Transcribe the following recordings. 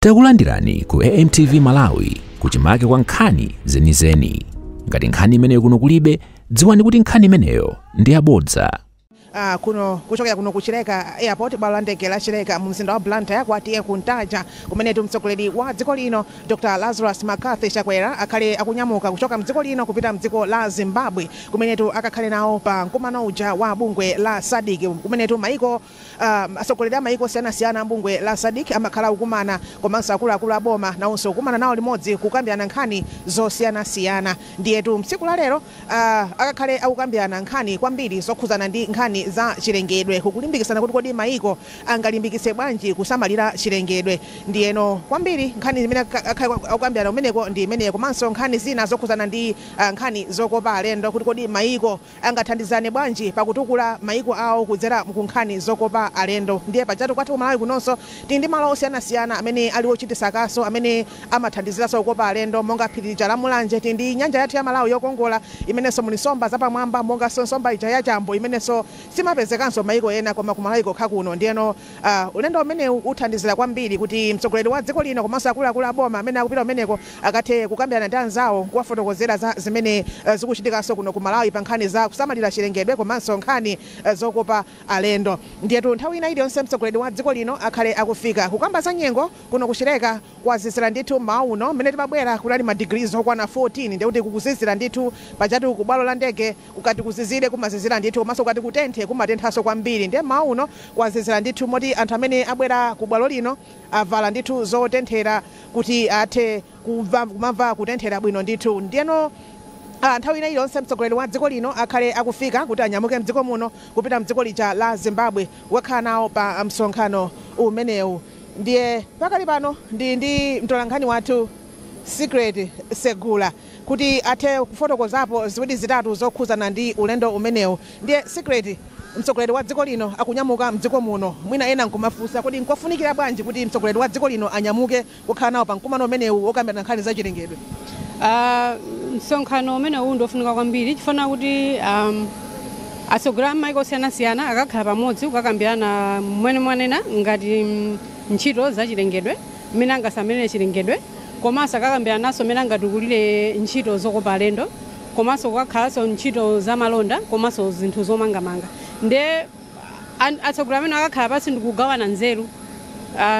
Takulandirani ku AMTV Malawi kuchimake kwa nkhani zenizeni. Ngati nkhani imeneyo kuno kulibe, dziwani kuti nkhani imeneyo ndi yabodza. Uh, kuno kuchokera kuno ku Chileka Airport bwalo la ndege la Chileka mu mzinda wa Blantyre kwa T/A Kuntaja kumenetu mtsogoleri wa dziko lino Dr. Lazarus McCarthy Chakwera akhale akunyamuka kuchoka mdziko lino kupita mdziko la Zimbabwe kumenetu akakhale nawo pa mkumano uja wa bungwe la SADC kumenetu maiko Atsogoleri a maiko osiyanasiyana a m'bungwe la Sadc amakhala akukumana komanso akuluakulu a boma nawonso kukumana nawo limodzi kukambirana nkhani zosiyanasiyana ndiyetu mtsiku la lero akakhale akukambirana nkhani kwambiri zokhudzana ndi nkhani za chilengedwe kukulimbikitsana kuti kodi maiko angalimbikitse bwanji kusamalira chilengedwe ndiyeno kwambiri nkhani imene akhale akukambirana kumeneko ndi imeneyo komanso nkhani zina zokhudzana ndi nkhani zokopa alendo kuti kodi maiko angathandizane bwanji pa kutukula maiko awo kudzera ku nkhani zokopa alendo. Ndiye pajatu kwathu ku Malawi kunonso tili ndi malo osiyanasiyana amene ali ochitisa kaso amene amathandiziranso kukopa alendo monga phiri lija la Mulanje. Tili ndi nyanja yathu ya Malawi yokongola imenenso muli nsomba zapamwamba monganso nsomba ija ya chambo imenenso simapezekanso maiko ena koma ku Malawi kokha kuno. Ndiyeno ulendo umenewu uthandizira kwambiri kuti mtsogoleri wa dziko lino komanso akuluakulu a boma amene akupita kumeneko akathe kukambirana ndi anzawo kuwafotokozera za zimene zikuchitikanso kuno ku Malawi pa nkhani za kusamalira chilengedwe komanso nkhani zokopa alendo. Ndiyetu nthawi ina iliyonse mtsogoleri wa dziko lino akhale akufika. Kukamba za nyengo kuno ku Chileka kwazizira ndithu mmawa uno, mmene timabwera kunali ma degrees okwana 14 ndekuti kukuzizira ndithu. Pajatu ku bwalo la ndege kukati kuzizire kumazizira ndithu komanso kukati kutenthe kumatenthaso kwambiri ndiye mmawa uno kwazizira ndithu moti anthu amene abwera ku bwalo lino, Avala ndithu zotenthera kuti athe kumva, kumamva kutenthera bwino ndithu. Ndiyeno a, nthawi ina iliyonse mtsogoleri wa dziko lino akhale akufika kuti anyamuke m'dziko muno kupita m'dziko lija la Zimbabwe kukakhala nawo pa msonkhano umenewu. Ndiye pakali pano ndili ndi mtolankhani wathu Secret Segula. kuti athe kufotokozapo ziwiri zitatu zokhuzana ndi ulendo umenewu ndiye Secret mtsogoleri wa dziko lino akunyamuka mdziko muno mwina ena nkumafunsa kodi nkofunikira bwanji kuti mtsogoleri wa dziko lino anyamuke kukhala nawo pa mkumano umenewu wokambirana nkhani za chilengedwe msonkhano umene uwu ndiofunika kwambiri chifana kuti um, atsogoleri a maiko osiyanasiyana akakhala pamodzi kukakambirana mmene mwanena ngati mm, ntchito za chilengedwe mmene angasamalire chilengedwe Komanso akakambilananso mmene angatukulile nchito zokopa alendo komanso kukakhalanso nchito za malonda komanso zinthu zomangamanga. Ndiye atsogoleri amenewa akakhala pansi ndi kugawana nzelu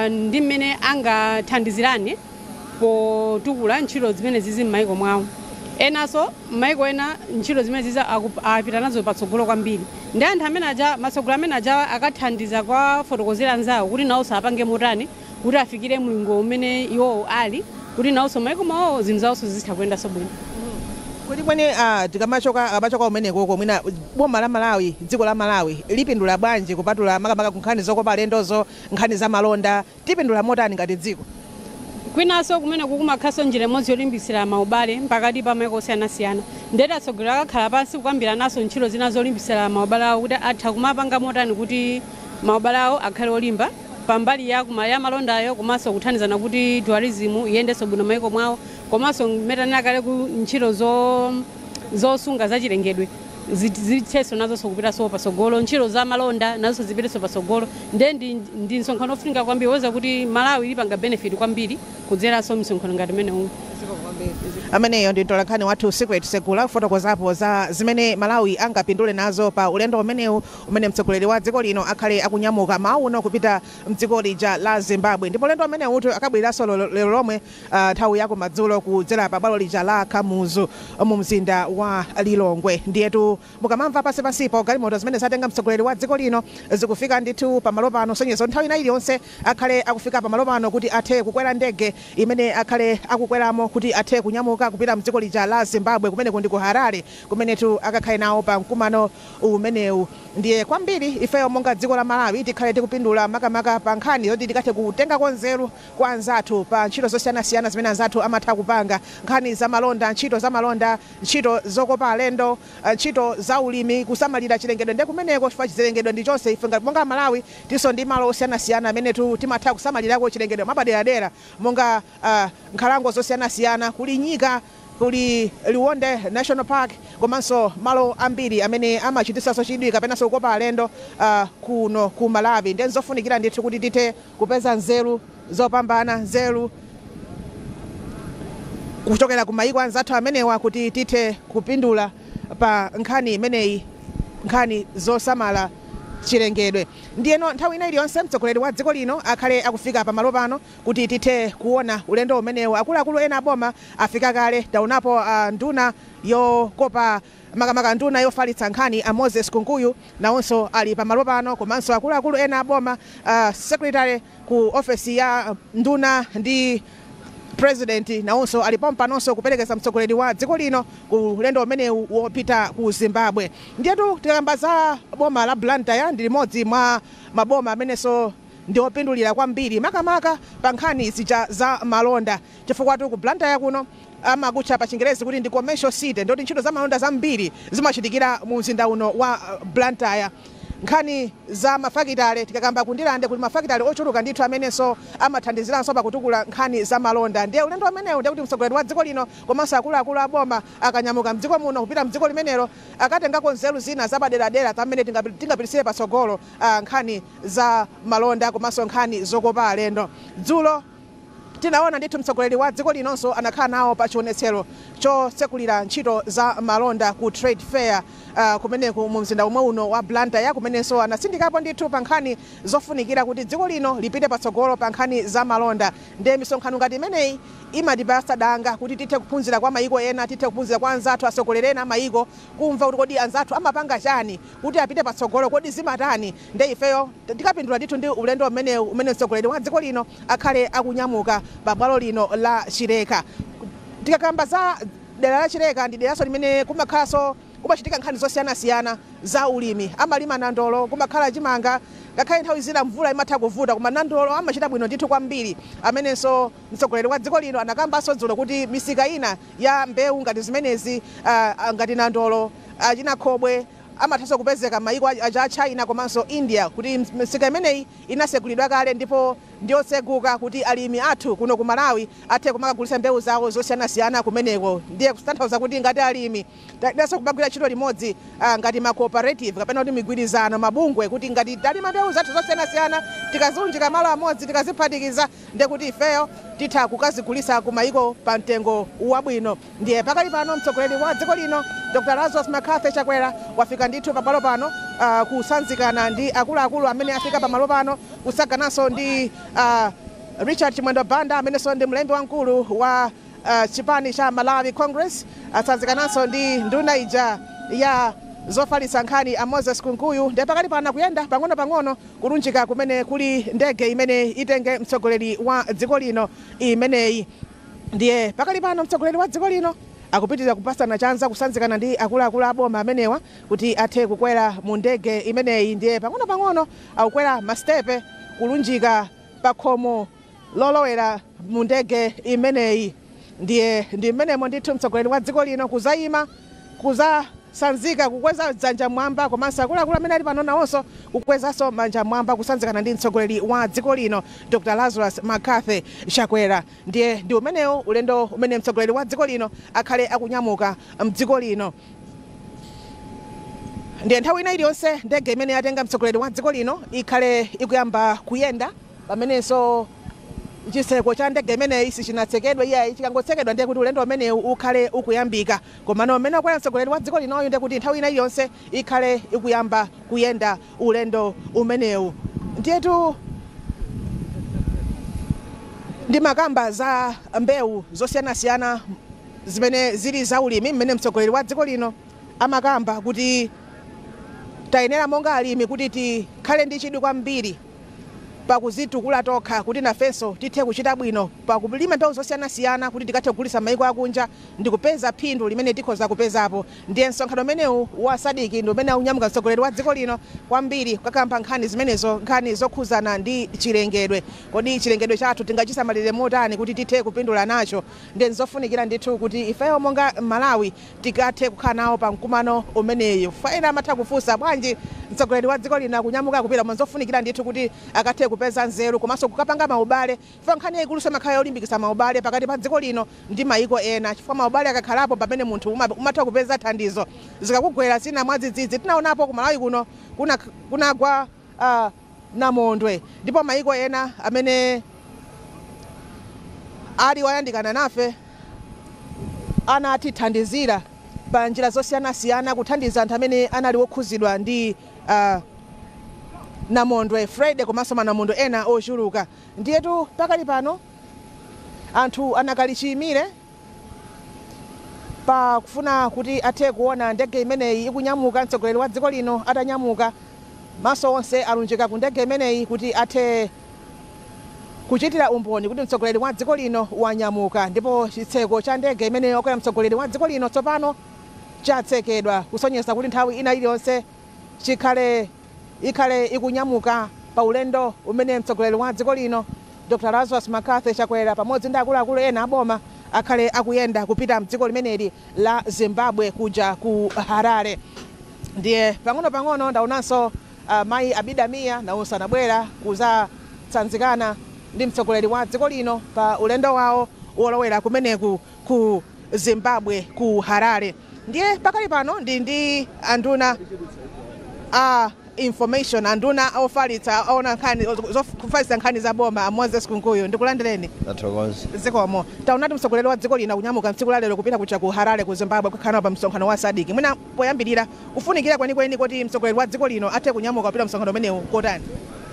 ndi mmene angathandizilane potukula nchito zimenezizi m'maiko mwao. Enanso maiko ena nchito zimenezizi apita nazo patsogolo kwambili. Ndiye anthu amene aja, atsogoleri amene ajawa akathandiza kuwafotokozela anzao kuti naonso apange motani. kuti afikire mlingo umene iwowo ali kuti nawonso maiko mwawowo zinthu zawonso zizitha kuyendanso bwino. Kodi kweni a tikamachoka akamachoka kumeneko mwina boma la Malawi dziko la Malawi lipindula bwanji kupatula makamaka ku nkhani zokopa alendozo, nkhani za malonda, tipindula motani ngati dziko? Kwinanso kumeneko kumakhalanso njira imodzi yolimbitsira maubale pakati pa maiko osiyanasiyana ndiyeno atsogoleri akakhala pansi kukambirananso ntchito zina zolimbitsira maubale awo kuti atha kumapanga motani kuti maubale awo akhale olimba. pa mbali ya kuma ya malondayo komanso kuthandizana kuti tourism iyendenso bwino maiko mwawo komanso mmene ndanena kale ku ntchito zo zosunga zachilengedwe zit- zithenso nazonso kupitanso patsogolo ntchito za malonda nazonso zipitenso patsogolo nde ndi, ndi msonkhano ofunika kwambiri oti malawi lipanga benefit kwambiri kudzeranso mu msonkhano ngati umenewu ameneyo ndi mtolankhani wathu secret segula kufotokozapo za zimene malawi angapindule nazo pa ulendo umenewu umene mtsogoleri wa dziko lino akhale akunyamuka mmawa uno kupita mdziko lija la Zimbabwe ndipo ulendo umenewutu akabwereranso lero lomwe nthawi ya kumadzulo kudzera pa bwalo lija la Kamuzu mu mzinda wa Lilongwe. Ndiyetu mukamamva pansi pansipo galimoto zimene zatenga mtsogoleri wa dziko lino zikufika ndithu pa malo pano kusonyeza kuti nthawi ina iliyonse akhale akufika pa malo pano kuti athe kukwera ndege imene akhale akukweramo kuti athe kunyamuka kupita mdziko lija la Zimbabwe kumeneko ndi ku Harare kumenetu akakhale nawo pa mkumano umenewu. Ndiye kwambiri ifeyo monga dziko la Malawi tikhale tikupindula makamaka pa nkhani zoti tikathe kutengako nzeru kwa anzathu pa ntchito zosiyanasiyana zimene anzathu amatha kupanga, nkhani za malonda, ntchito za malonda, ntchito zokopa alendo, ntchito za ulimi, kusamalira chilengedwe nde kumeneko chifukwa chilengedwe ndi chonse ife ngati monga Malawi tilinso ndi malo osiyanasiyana amenetu timatha kusamalirako chilengedwe mwapaderadera monga nkhalango zosiyanasiyana, kuli nyika, kuli Liwonde National Park komanso malo ambiri amene amachititsanso chidwi kapenanso kukopa alendo kuno ku Malawi. Ndiye n'zofunikira ndithu kuti tithe kupeza nzeru zopambana, nzeru kuchokera ku mayiko anzathu amenewa kuti tithe kupindula pa nkhani imeneyi, nkhani zosamala chilengedwe. Ndiyeno nthawi ina iliyonse mtsogoleri wa dziko lino akhale akufika pamalo pano Kuti tithe kuona ulendo umenewu, akuluakulu ena a boma afika kale. Taonapo a nduna yokopa makamaka nduna yofalitsa nkhani a Moses Kunkuyu nawonso ali pamalo pano komanso akuluakulu ena a boma, a secretary ku ofesi ya nduna ndi purezidenti nawonso ali pompanonso kuperekeza mtsogoleri wa dziko lino ku ulendo umenewu wopita ku Zimbabwe. Ndiyetu tikakamba za boma la Blantyre ndi limodzi mwa maboma amenenso. ndi opindulira kwambiri makamaka pa nkhani zija za malonda chifukwatu ku Blantyre kuno amakutcha pachingerezi kuti ndi commercial city ndekuti ntchito za malonda zambiri zimachitikira mu mzinda uno wa Blantyre. Nkhani za mafakitale tikakamba ku Ndirande kuli mafakitale ochuluka ndithu amenenso amathandiziranso pa kutukula nkhani za malonda ndiye ulendo umenewu ndekuti mtsogoleri wa dziko lino komanso akuluakulu a boma akanyamuka mdziko muno kupita mdziko limenelo akatengako nzeru zina zapaderadera za mmene tingapititsire patsogolo nkhani za malonda komanso nkhani zokopa alendo. Dzulo tinaona ndithu mtsogoleri wa dziko linonso anakhala nawo pa chionetsero chotsekulira ntchito za malonda ku Trade Fair uh, kumeneku mu mzinda womwe uno wa Blantyre kumenenso anatsindikapo ndithu pa nkhani zofunikira kuti dziko lino lipite patsogolo pa nkhani za malonda. Ndiye misonkhano ngati imeneyi imatipatsa danga kuti tithe kuphunzira kwa mayiko ena, tithe kuphunzira kwa anzathu atsogoleri ena a mayiko, kumva kuti kodi anzathu amapanga chani kuti apite patsogolo kodi zimatani nde ifeyo tikapindula ndithu ndi ulendo umenewu umene mtsogoleri wa dziko lino akhale akunyamuka pa bwalo lino la chileka tikakamba za dera la chileka ndi deraso limene kumakhalaso kumachitika nkhani zosiyanasiyana za ulimi amalima nandolo kumakhala chimanga ngakhale nthawi zina mvula imatha kuvuta koma nandolo amachita bwino ndithu kwambiri amenenso mtsogoleri wa dziko lino anakambaso dzulo kuti misika ina ya mbewu ngati zimenezi ngati nandolo, achina khobwe amathanso kupezeka mayiko achina China komanso India kuti misika imeneyi inasegulidwa kale ndipo ndiyotseguka kuti alimi athu kuno ku Malawi athe kumakagulitsa mbewu zawo zosiyanasiyana kumeneko ndiye kutanthauza kuti ngati alimi tayeneranso kumagwira ntchito limodzi ngati ma cooperative kapena kuti migwirizano, mabungwe kuti ngati talima mbewu zathu zosiyanasiyana tikaziunjika malo amodzi tikaziphatikiza. ndiye kuti ifeyo titha kukazigulitsa ku mayiko pa mtengo wabwino. Ndiye pakali pano mtsogoleri wa dziko lino Dr Lazarus McCarthy Chakwera wafika ndithu pa bwalo pano kusanzikana ndi akuluakulu amene afika pa malo pano kutsagananso ndi Richard Chimwendo Banda amenenso ndi mlembi wamkulu wa chipani cha Malawi Congress, atsanzikananso ndi nduna ija ya zofalitsa nkhani a Moses Kunkuyu ndiye pakali pano akuyenda pang'onopang'ono kulunjika kumene kuli ndege imene itenge mtsogoleri wa dziko lino imeneyi. Ndiye pakali pano mtsogoleri wa dziko lino akupitiriza kupasana chanza, kusanzikana ndi akuluakulu a boma amenewa kuti athe kukwera mu ndege imeneyi. Ndiye pang'onopang'ono akukwera masitepe kulunjika pakhomo lolowera mu ndege imeneyi ndiye ndi mmenemo ndithu mtsogoleri wa dziko lino kuzaima kuzasanzika kukweza dzanja mmwamba komanso akuluakulu amene ali pano nawonso kukwezanso manja mmwamba kusanzikana ndi mtsogoleri wa dziko lino Dr Lazarus McCarthy Chakwera ndiye ndi umenewo ulendo umene mtsogoleri wa dziko lino akhale akunyamuka mdziko lino ndiye nthawi ina iliyonse ndege imene yatenga mtsogoleri wa dziko lino ikhale ikuyamba kuyenda pamenenso chitseko cha ndege imeneyi sichinatsekedwe iyayi. Chikangotsekedwa ndiye kuti ulendo umenewu ukhale ukuyambika. Komano mmene wakwera mtsogoleri wa dziko linoyu ndiye kuti nthawi ina iliyonse ikhale ikuyamba kuyenda ulendo umenewu. Ndiyetu ndimakamba za mbewu zosiyanasiyana zimene zili zaulimi mmene mtsogoleri wa dziko lino amakamba kuti tayenera monga alimi kuti tikhale ndi chidwi kwambiri. pakuzitukula tokha kuti nafenso tithe kuchita bwino pakulima mbewu zosiyanasiyana kuti tikathe kugulitsa maiko akunja ndikupeza phindu limene tikhoza kupezapo ndiye msonkhano umenewu wa Sadc ndi umene akunyamuka mtsogoleri wa dziko lino kwambiri kukakamba nkhani zimenezo nkhani zokhuzana ndi chilengedwe kodi chilengedwe chathu tingachisamalire motani kuti tithe kupindula nacho ndiye nzofunikira ndithu kuti ifeyo monga Malawi tikathe kukhala nawo pa mkumano umeneyu chifukwa ena amatha kufunsa bwanji mtsogoleri wa dziko lino akunyamuka kupita koma nzofunikira ndithu kuti akathe kupeza nzeru komanso kukapanga maubale chifukwa nkhani yayikuluso imakhala yolimbikitsa maubale pakati pa dziko lino ndi mayiko ena chifukwa maubale akakhalapo mpamene munthu umatha kupeza thandizo zikakugwera zina mwadzidzidzi tinawonapo ku Malawi kuno kunagwa namondwe ndipo mayiko ena amene ali oyandikana nafe anatithandizira pa njira zosiyanasiyana kuthandiza anthu amene anali okhuzidwa ndi namondwe Freddy komanso manamondwe ena ochuluka. Ndiyetu pakali pano anthu anakali chiyimire. Pa kufuna kuti athe kuona ndege imeneyi ikunyamuka, mtsogoleri wa dziko lino atanyamuka, maso onse alunjika ku ndege imeneyi kuti athe kuchitira umboni kuti mtsogoleri wa dziko lino wanyamuka. Ndipo chitseko cha ndege imene wakwera mtsogoleri wa dziko lino tsopano chatsekedwa kusonyeza kuti nthawi ina iliyonse chikhale. ikhale ikunyamuka pa ulendo umene mtsogoleri wa dziko lino Dr Lazarus McCarthy Chakwera pamodzi ndi akuluakulu ena a boma akhale akuyenda kupita mdziko limeneli la Zimbabwe kuja ku Harare ndiye pang'onopang'ono ndaonanso mayi Abida Mia nawonso anabwera kuzatsanzikana ndi mtsogoleri wa dziko lino pa ulendo wawo wolowera kumeneku ku Zimbabwe ku Harare. ndiye pakali pano ndi ndi anduna a information anduna ofalitsa aona nkhani zofalitsa nkhani za boma a moses kunkuyu ndikulandireni zikomo taonati mtsogoleri wa dziko lino akunyamuka mtsiku la lero kupita kuja ku harare ku zimbabwe kukhala pa msonkhano wa sadc mwina poyambirira kufunikira kwenikweni kuti mtsogoleri wa dziko lino athe kunyamuka kupita msonkhano umenewu kotani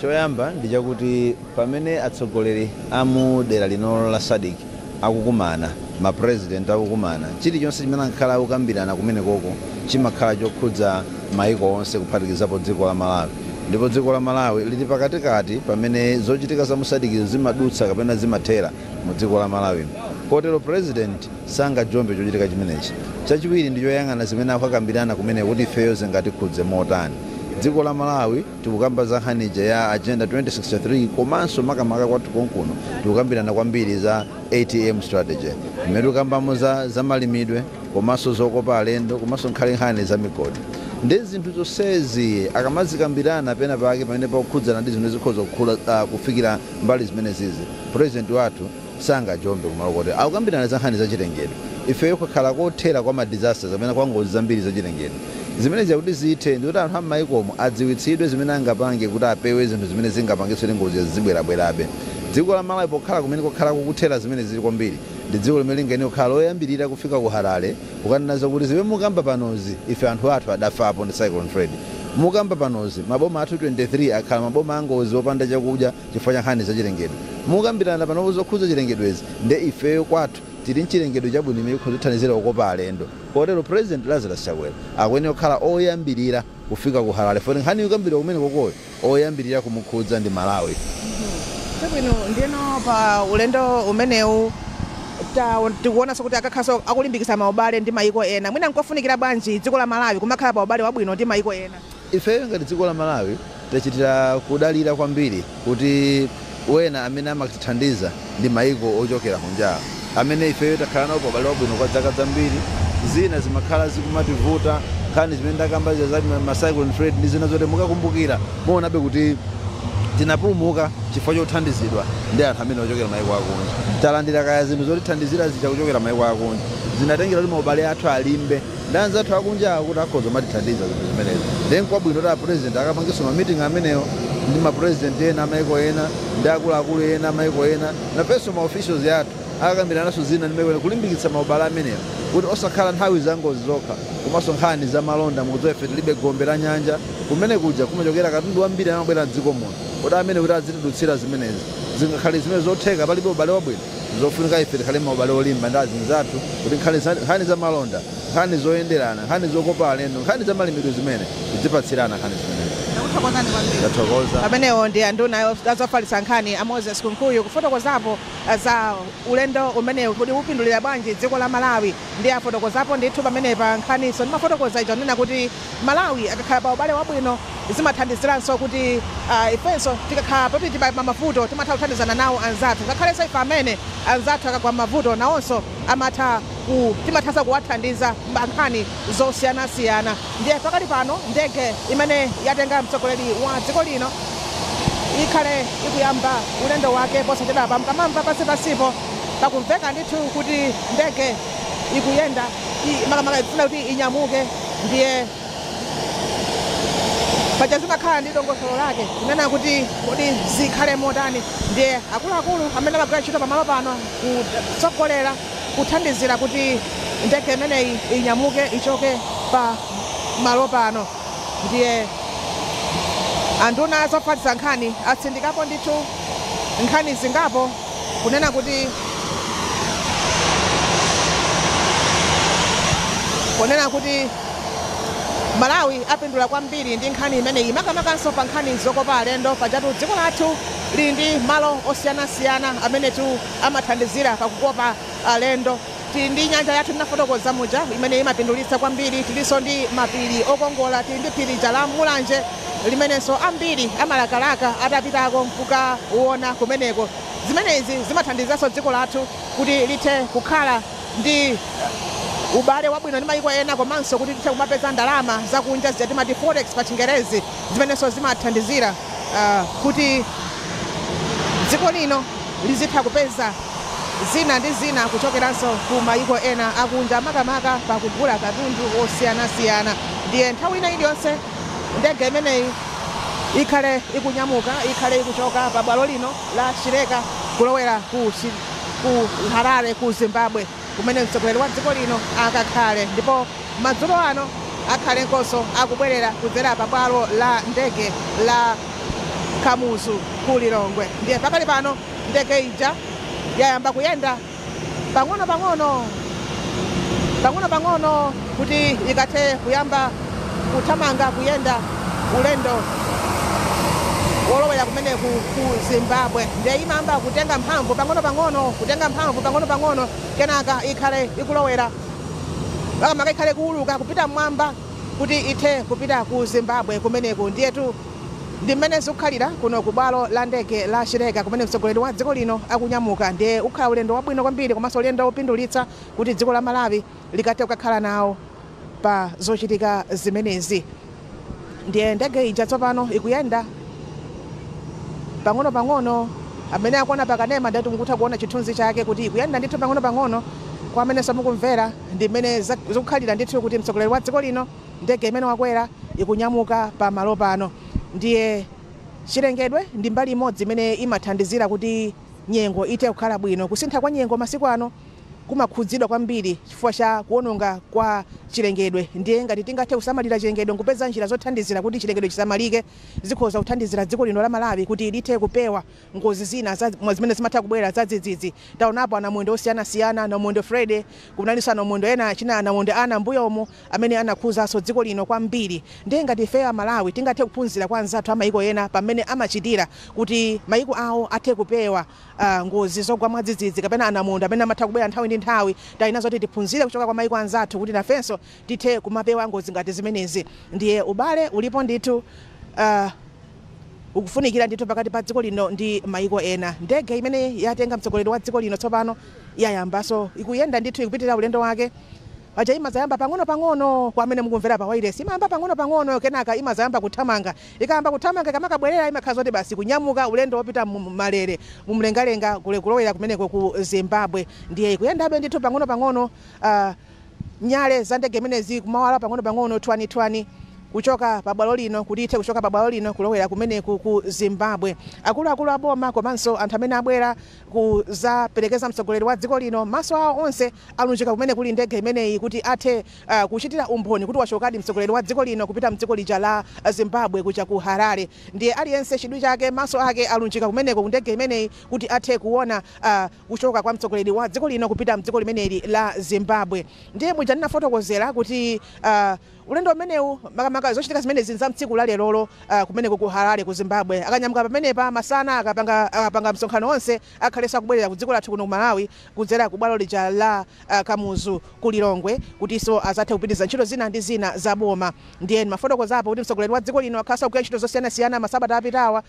Choyamba ndi chakuti pamene atsogoleri a mu dera lino la Sadc akukumana, ma President akukumana, chilichonse chimene amakhala akukambirana kumenekoko chimakhala chokhudza maiko onse kuphatikizapo dziko la Malawi. Ndipo dziko la Malawi lili pakatikati pamene zochitika za mu Sadc zimadutsa kapena zimathera mu dziko la Malawimu. Kotero President sangajombe chochitika chimenechi. Chachiwiri ndi choyang'ana zimene akukakambirana kumeneko kuti ifeyo zingatikhudze motani. Dziko la Malawi. Tikukamba za nkhani ija ya Agenda 2063 komanso makamaka kwathu konkuno tikukambirana kwambiri za atm Strategy imene tikukambamo za malimidwe komanso zokopa alendo komanso nkhale nkhani za migodi nde zinthu zonsezi akamazikambirana pena pake pamene pakukhudzana ndi zimene zikhoza kukhula kufikira mbali zimenezizi President wathu sangajombe kumalo koti akukambirana za nkhani zachilengedwe. Ifeyo kwakhala kothera kwa ma disasters kapena kwa ngozi zambiri zachilengedwe. Zimenezi zakuti zithe ndikuti anthu a m'mayikomo adziwitsidwe zimene angapange kuti apewe zinthu zimene zingapangitse kuti ngozizo zizibwerabwerabe. Dziko la Malawi pokhala kumene kwakhala kukuthera zimenezi kwambiri, ndi dziko limene lingayenere kukhala loyambirira kufika ku Harare kukanena zokuti zimene mukukamba panozi ife anthu athu adafapo ndi Cyclone Freddy. Mukukamba panozi, maboma athu 23 akhala maboma a ngozi opanda chakudya, chifukwa cha nkhani za chilengedwe. Mukukambirana panopa zokhudza chilengedwezi nde ifeyo kwathu tili nchilengedwe chabwino chimene chikhoza kutithandizira kukopa alendo kotero President Lazarus Chakwera akuyenera kukhala oyambirira kufika ku Harare foti nkhani ikukambidwa kumenekokoyo oyambirira kumukhudza ndi Malawi. Chabwino, ndiyeno pa ulendo umenewu tikuonanso kuti akakhalanso akulimbikitsa maubale ndi mayiko ena. Mwina nkofunikira bwanji dziko la Malawi kumakhala pa ubale wabwino ndi mayiko ena? Ifeyo ngati dziko la Malawi tachitira kudalira kwambiri kuti wena amene amatithandiza ndi maiko ochokera kunjawa amene ifeyo takhala nawo pa ubale wabwino kwa dzaka zambiri, zina zimakhala zikumativuta, nkhani zimene ndakamba zija za ma cyclone Freddy ndi zina zotero, mukakumbukira muonabe kuti tinapulumuka chifukwa chothandizidwa ndi anthu amene ochokera maiko akunja. Talandira kaya zinthu zotithandizira zija kuchokera maiko akunja, zinatengera kuti ma ubale athu alimbe. Ndi anzathu akunjawo kuti akhoza kumatithandiza zinthu zimenezi nde nkwabwino kuti a president akapangenso ma meeting amenewo ndi ma president ena a maiko ena ndi akuluakulu ena a maiko ena. Nafenso ma officials athu akakambirananso zina ndi maiko ena kulimbikitsa ma ubale amenewo kuti osakhala nthawi za ngozi zokha komanso nkhani za malonda. Mukudziwa ife tilibe gombe la nyanja. Kumene kuja kumachokera katundu wambiri amene amabwera m'dziko muno. Kodi amene kuti azitidutsira zimenezi zingakhale zimene zotheka? Palibe ubale wabwino. Zofunika ife tikhale maubale olimba ndi azinzathu kuti nkhani za malonda, nkhani zoyenderana, nkhani zokopa alendo, nkhani za malimidwe zimene, tidzipatsirana nkhani zimenezi. Ndakuthokozani kwambiri. Tathokoza. Amenewo ndi anduna a zofalitsa nkhani a Moses Kunkuyu kufotokozapo za ulendo umenewu kuti upindulira bwanji dziko la Malawi ndiye afotokozapo ndithu pamenepa nkhaninso ndimafotokoza ija kunena kuti Malawi akakhala pa ubale wabwino zimathandiziranso kuti ifenso tikakhala poti tili pamavuto timatha kuthandizana nawo anzathu ngakhalenso ife amene anzathu akagwa m'mavuto nawonso amatha ku, timathanso kuwathandiza pa nkhani zosiyanasiyana. Ndiye pakali pano ndege imene yatenga mtsogoleri wa dziko lino ikhale ikuyamba ulendo wake posachedwapa. Mukamamva pansipansipo pakumveka ndithu kuti ndege. ikuyenda i- makamaka ikufuna kuti inyamuke ndiye paja zimakhala ndi dongosolo lake kunena kuti kodi zikhale motani ndiye akuluakulu amene amagwira ntchito pamalo pano kutsogolera kuthandizira kuti ndege imeneyi inyamuke ichoke pa malo pano ndiye anduna zofalitsa nkhani atsindikapo ndithu nkhani zingapo kunena kuti Malawi apindula kwambiri ndi nkhani imeneyi makamakanso pa nkhani zokopa alendo pajatu dziko lathu lili ndi malo osiyanasiyana amenetu amathandizira pakukopa alendo. Tili ndi nyanja yathu ndinafotokoza muja imene imapindulitsa kwambiri. Tilinso ndi mapiri okongola. Tili ndi phiri lija la Mulanje limenenso ambiri amalakalaka atapitako n'kukaona kumeneko. Zimenezi zimathandizanso dziko lathu kuti lithe kukhala ndi ubale wabwino ndi mayiko ena komanso kuti lithe kumapeza ndalama zakunja zija timati forex pachingerezi. zimenenso zimathandizira kuti dziko lino lizitha kupeza zina ndi zina kuchokeranso ku mayiko ena akunja, makamaka pakugula katundu wosiyanasiyana. Ndiye nthawi ina iliyonse ndege imeneyi ikhale ikunyamuka, ikhale ikuchoka pabwalo lino la Chileka kulowera ku Harare, ku Zimbabwe. kumene mtsogoleri wa dziko lino akakhale ndipo madzulo ano akhale nkonso akubwelera kudzera pa bwalo la ndege la Kamuzu ku Lilongwe ndiye pakali pano ndege ija yayamba kuyenda pang'ono pang'ono pang'ono pang'ono. kuti ikathe kuyamba kuthamanga, kuyenda ulendo wolowera kumeneku ku Zimbabwe. Ndiye imayamba kutenga mphamvu pang'onopang'ono, kutenga mphamvu pang'onopang'ono, kenaka ikhale ikulowera, makamaka ikhale ikuwuluka kupita mmwamba kuti ithe kupita ku Zimbabwe kumeneku. Ndiyetu ndi mmene zikukhalira kuno ku bwalo la ndege la Chileka kumene mtsogoleri wa dziko lino akunyamuka. Ndiye ukhala ulendo wabwino kwambiri komanso ulendo wopindulitsa kuti dziko la Malawi likathe kukakhala nawo pa zochitika zimenezi. Ndiye ndege ija tsopano ikuyenda pang'onopang'ono. Amene akuona pa kanema ndati mukutha kuona chithunzi chake kuti ikuyenda ndithu pang'onopang'ono. Kwa amenenso mukumvera, ndi mmene zikukhalira ndithu kuti mtsogoleri wa dziko lino, ndege imene wakwera ikunyamuka pa malo pano. Ndiye chilengedwe ndi mbali imodzi imene imathandizira kuti nyengo ithe kukhala bwino. Kusintha kwa nyengo masiku ano kumakhudzidwa kwambiri chifukwa cha kuononga kwa chilengedwe. Ndiye ngati tingathe kusamalira chilengedwe nkupeza njira zothandizira kuti chilengedwe chisamalike, zikhoza kuthandizira dziko lino la Malawi kuti lithe kupewa ngozi zina za zimene zimatha kubwera zadzidzidzi. Taonapo anamondwe osiyanasiyana, namondwe Freddy, kunalinso anamondwe ena achina anamondwe Ana mmbuyomu amene anakhuzanso dziko lino kwambiri. Ndiye ngati ifeyo a Malawi tingathe kuphunzira kwa anzathu a maiko ena pa mmene amachitira kuti maiko awo athe kupewa. a Ngozi zogwa mwadzidzidzi kapena a Namondwe amene amatha kubwera nthawi ndi nthawi. Pali zina zoti tiphunzire kuchoka kwa maiko anzathu kuti nafenso tithe kumapewa ngozi ngati zimenezi. Ndiye ubale ulipo ndithu a ukufunikira ndithu pakati pa dziko lino ndi maiko ena. Ndege imene yatenga mtsogoleri wa dziko lino tsopano yayambanso, ikuyenda ndithu ikupitirira ulendo wake. Paja imadzayamba pang'onopang'ono kwa amene mukumvera pawailesi, imayamba pang'onopang'ono kenaka imadzayamba kuthamanga Ikayamba kuthamanga, ikamakabwerera imakhala zoti basi ikunyamuka ulendo wopita mu malere mu mlengalenga kule kulowera kumeneko ku Zimbabwe. Ndiye ikuyendabe ndithu pang'ono pang'ono uh nyale za ndege imenezi kumawala pang'ono pang'ono thwani thwani kuchoka pa bwalo lino kuti ithe kuchoka pa bwalo lino kulowera kumeneku ku Zimbabwe. Akulu akulu a boma komanso anthu amene abwera kudzaperekeza mtsogoleri wa dziko lino maso awo onse alunjika kumene kuli ndege imeneyi kuti athe kuchitira umboni kuti wachokadi mtsogoleri wa dziko lino kupita mdziko lija la Zimbabwe kuja ku Harare ndiye aliyense chidwi chake maso ake alunjika kumeneko ku ndege imeneyi kuti athe kuona kuchoka kwa mtsogoleri wa dziko lino kupita mdziko limeneli la Zimbabwe ndiye muja ndinafotokozera kuti ulendo umenewu makamaka zochitika zimenezi nza mtsiku la lerolo kumeneko ku Harare ku Zimbabwe akanyamuka pamenepa masana akapanga akapanga msonkhano onse akhalenso akubwerera ku dziko lathu kuno ku Malawi kudzera ku bwalo lija la Kamuzu ku Lilongwe kutiso azathe kupitiliza ntchito zina ndi zina za boma. Ndiye ndimafotokozapo kuti mtsogoleri wa dziko lino akhalanso akugwira ntchito zosiyanasiyana masabata apitawa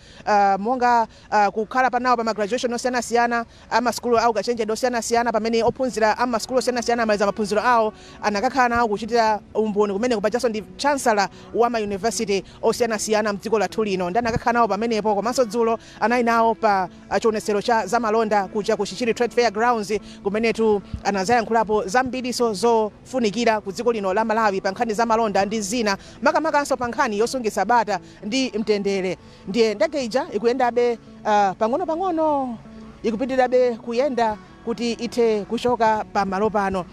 monga kukhala pa nawo pa ma graduation osiyanasiyana a ma sukulu a ukachenjede osiyanasiyana pamene ophunzira a mma sukulu osiyanasiyana amaliza maphunziro awo anakakhala nawo kuchitira umboni kumeneko, pajanso ndi chancellor wa ma university osiyanasiyana mdziko lathu lino ndiye anakakhala nawo pamenepo komanso dzulo anali nawo pa. chionetsero cha zamalonda kuja ku Chichiri Trade Fair Grounds kumenetu anadzayankhulapo zambirinso zofunikira ku dziko lino la Malawi pa nkhani za malonda ndi zina makamakanso pa nkhani yosungitsa bata ndi mtendere. Ndiye ndege ija ikuyendabe ah, pang'onopang'ono ikupitirirabe kuyenda kuti ithe kuchoka pa malo pano.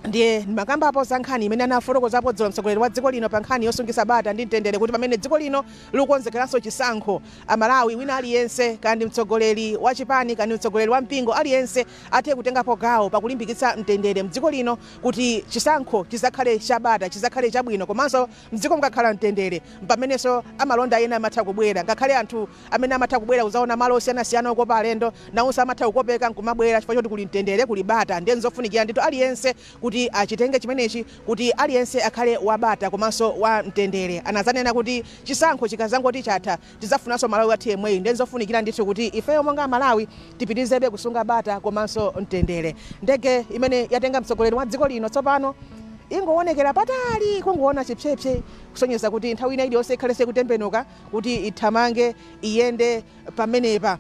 Ndiye ndimakambapo za nkhani imene anafotokozapo dzulo mtsogoleri wa dziko lino pa nkhani yosungitsa bata ndi mtendere kuti pamene dziko lino likukonzekeranso chisankho, a Malawi wina aliyense, kaya ndi mtsogoleri wa chipani kaya ndi mtsogoleri wa mpingo, aliyense athe kutengapo gawo pa kulimbikitsa mtendere mdziko lino kuti chisankho chidzakhale cha bata, chidzakhale chabwino komanso mdziko mukakhala mtendere mpamenenso amalonda ena amatha kubwera ngakhale anthu amene amatha kubwera kudzaona malo osiyanasiyana okopa alendo, nawonso amatha kukopeka n'kumabwera chifukwa choti kuli mtendere, kuli bata. Ndiye n'zofunikira ndithu aliyense kuti achitenge chimenechi kuti aliyense akhale wa bata komanso wa mtendere. Anadzanena kuti chisankho chikadzangoti chatha, tidzafunanso Malawi wathu yemweyu. Ndiye n'zofunikira ndithu kuti ifeyo monga Amalawi tipitirizebe kusunga bata komanso mtendere. Ndege imene yatenga mtsogoleri wa dziko lino tsopano ingoonekera patali, kungoona chipsepse kusonyeza kuti nthawi ina iliyonse ikhalenso ikutembenuka. kuti ithamange, iyende pamenepa.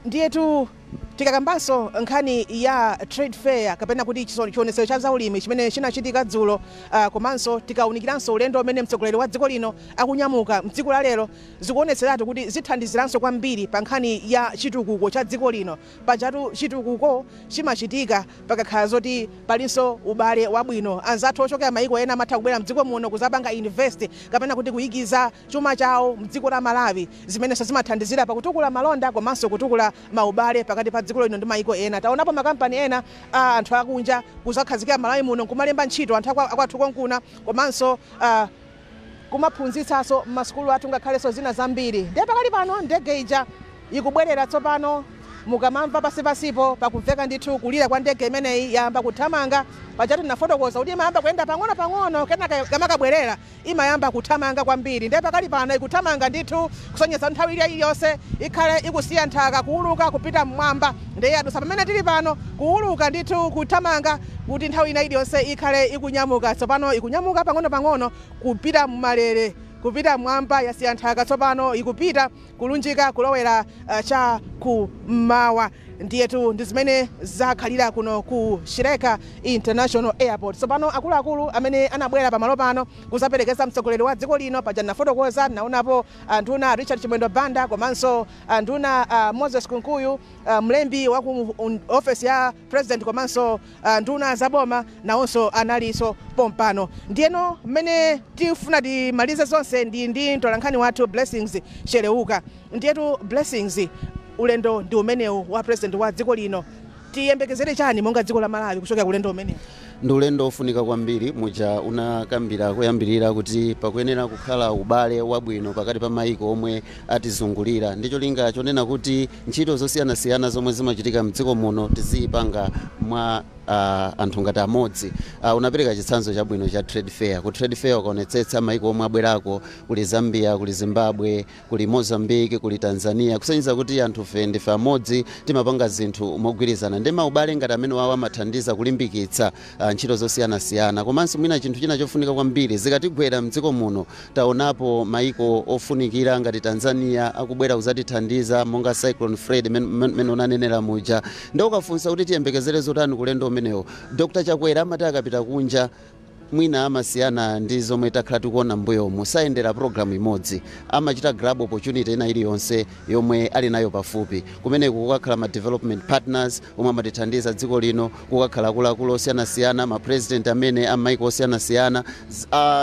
Ndiyetu tikakambanso nkhani ya trade fair kapena kuti chiso- chionetsero cha zaulimi chimene chinachitika dzulo ah, komanso tikawunikiranso ulendo umene mtsogoleri wa dziko lino akunyamuka mdziko la lero zikuonetseratu kuti zithandiziranso kwambiri pa nkhani ya chitukuko cha dziko lino Pajatu chitukuko chimachitika pakakhala zoti palinso ubale wabwino. Anzathu ochokera maiko ena amatha kubwera mdziko muno kuzapanga invest kapena kuti kuyikiza chuma chawo mdziko la Malawi zimenenso zimathandizira pakutukula malonda komanso kutukula maubale pakati pa dziko lino ndi maiko ena. Taonapo makampani ena a anthu akunja kuzakhazikira Malawi muno nkumalemba ntchito anthu akwathu konkuna komanso kumaphunzitsanso m'masukulu athu ngakhalenso zina zambiri. Ndiye pakali pano ndege ija ikubwerera tsopano, mukamamva pansi pansipo pakumveka ndithu kulira kwa ndege imeneyi, yayamba kuthamanga. Pajatu ndinafotokoza kuti imayamba kuyenda pang'ono pang'ono kenaka ikamakabwerera imayamba kuthamanga kwambiri. Ndiye pakali pano ikuthamanga ndithu kusonyeza kuti nthawi ina iliyonse ikhale ikusiya nthaka, kuwuluka kupita m'mwamba. Ndiye yadutsa pamene tiri pano, kuwuluka ndithu, kuthamanga, kuti nthawi ina iliyonse ikhale ikunyamuka. Tsopano ikunyamuka pang'onopang'ono, kupita m'malere, kupita mmwamba, yasiya nthaka tsopano, ikupita, kulunjika kulowera cha Kummawa. Ndiyetu ndi zimene zakhalira kuno ku Chileka International Airport. Tsopano, akuluakulu amene anabwera pa malo pano kudzaperekeza mtsogoleri wa dziko lino, paja ndinafotokoza, ndinawonapo anduna, Richard Chimwendo Banda komanso. nduna Moses Kunkuyu, Mlembi wa ku ofesi ya President komanso nduna za boma nawonso analinso pompano. Ndiyeno mmene tifuna timalize zonse ndi ndi mtolankhani wathu Blessings Cheleuka. Ndiyetu Blessings, ulendo ndi umenewu wa President wa dziko lino. Tiyembekezere chani monga dziko la Malawi kuchokera ku ulendo umenewu? Ndi ulendo wofunika kwambiri. Muja unakambira koyambirira kuti pakuyenera kukhala ubale wabwino pakati pa maiko omwe atizungulira ndi cholinga chonena kuti ntchito zosiyanasiyana zomwe zimachitika mdziko muno tizizipanga mwa anthu ngati amodzi. Unapereka chitsanzo chabwino cha trade fair. Ku trade fair ukaonetsetsa maiko omwe abwerako kuli Zambia, kuli Zimbabwe, kuli Mozambique, kuli Tanzania kusonyeza kuti anthufe ndife amodzi, timapanga zinthu mogwirizana nde maubale ngati amenewawa amathandiza kulimbikitsa ah, ntchito zosiyanasiyana komanso mwina chinthu china chofunika kwambiri zikatigwera mdziko muno taonapo maiko ofunikira ngati Tanzania akubwera kuzatithandiza monga Cyclone Freddy men- men- mene unanenera muja nde ukafunsa kuti tiyembekezere zotani ku ulendo umenewo Dr. Chakwera amati akapita kunja mwina amasiyana ndi zomwe takhala tikuona m'mbuyomu. Sayendera program imodzi. Amachita grab opportunity ina iliyonse yomwe ali nayo pafupi. Kumeneko kukakhala ma development partners omwe amatithandiza dziko lino, kukakhala akuluakulu osiyanasiyana, ma president amene a m'maiko osiyanasiyana.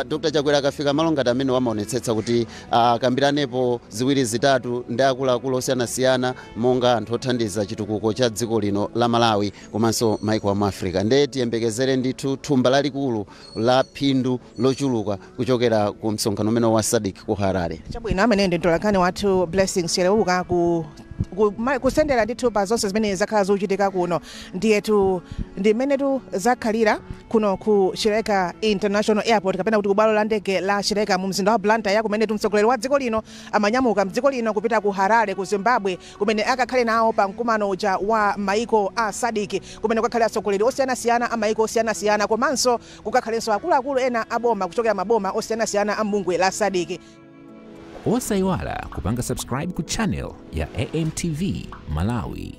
Dr. Chakwera akafika malo ngati amenewo amaonetsetsa kuti ah, akambiranepo ziwiri zitatu ndi akuluakulu osiyanasiyana monga anthu othandiza chitukuko cha dziko lino la Malawi. komanso maiko a mu africa nde tiyembekezere ndithu thumba lalikulu la phindu lochuluka kuchokera ku msonkhano umenewu wa sadc ku harare chabwino ameneyu ndi mtolankhani wathu blessings cheleuka ku ku- ma- kutsendera ndithu pa zonse zimene zakhala zikuchitika kuno ndiyetu ndi mmenetu zakhalira kuno ku chileka international airport kapena kuti ku bwalo la ndege la chileka mu mzinda wa blantyre kumenetu mtsogoleri wa dziko lino amanyamuka mdziko lino kupita ku harare ku zimbabwe kumene akakhale nawo pa mkumano uja wa maiko a Sadc kumene kukakhale atsogoleri osiyanasiyana a maiko osiyanasiyana komanso kukakhalenso akuluakulu ena a boma kuchokera maboma osiyanasiyana a m'bungwe la Sadc. Osaiwala kupanga subscribe ku channel ya AMTV Malawi.